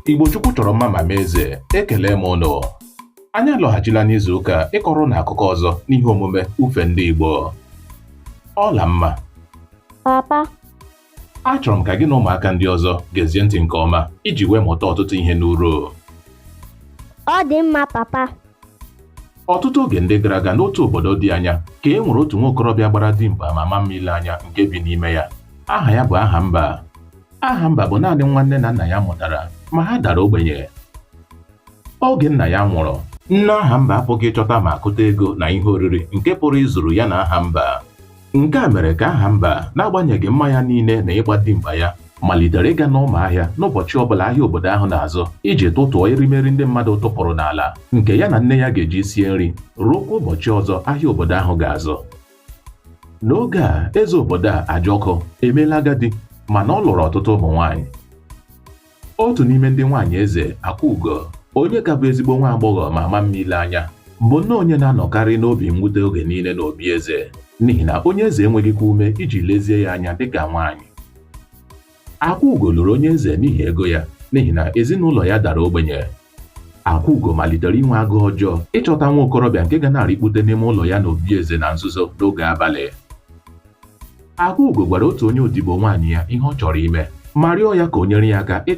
Igbo Chukwu chọrọ mma ma mee eze ekele m ụnụ anyị alọghachila n'izu ụka ịkọrọ ụnụ akụkọ ọzọ n'ihe omume ufe ndị Igbo Ọlamma papa achọrọ m ka gị na ụmụaka ndị ọzọ gezie ntị nke ọma iji wee mụta ọtụtụ ihe n'uru ọ dị mma papa ọtụtụ oge ndị gara aga n'otu obodo dị anya ka e nwere otu nwa okorobịa gbara dimkpa ma maa mma ile anya nke bi n'ime ya aha ya bụ Ahamba Ahamba bụ naanị nwa nne na nna ya mụtara ma ha dara ogbenye oge nna ya nwụrụ nne Ahamba apụghị ịchọta ma akụta ego na ihe oriri nke pụrụ izuru ya na Ahamba nke a mere ka Ahamba n'agbanyeghị mma ya niile na ịgba dimkpa ya malitere ịga n'ọma ahịa n'ụbọchị ọbụla ahịa obodo ahụ na-azụ iji tụtụọ erimeri ndị mmadụ tụpụrụ n'ala nke ya na nne ya ga-eji sie nri ruokwa ụbọchị ọzọ ahịa obodo ahụ ga-azụ n'oge a eze obodo a Ajọkụ emeela agadi mana ọ lụrụ ọtụtụ ụmụ nwaanyị otu n'ime ndị nwaanyị eze Akwaugo onye ka bụ ezigbo nwa agbọghọ ma maa mma ile anya bụ nnọọ onye na-anọkarị n'obi mwute oge niile n'obi eze n'ihi na onye eze enweghịkwa ume iji lezie ya anya dịka nwaanyị Akwaugo lụrụ onye eze n'ihi ego ya n'ihi na ezinụlọ ya dara ogbenye Akwaugo malitere inwe agụụ ọjọọ ịchọta nwa okorobịa nke ga na-arịkpute n'ime ụlọ ya n'obi eze na nzuzo n'oge abalị. Akwaugo gwara otu onye odibo nwaanyị ya ihe ọ chọrọ ime ma rịọ ya ka o nyere ya aka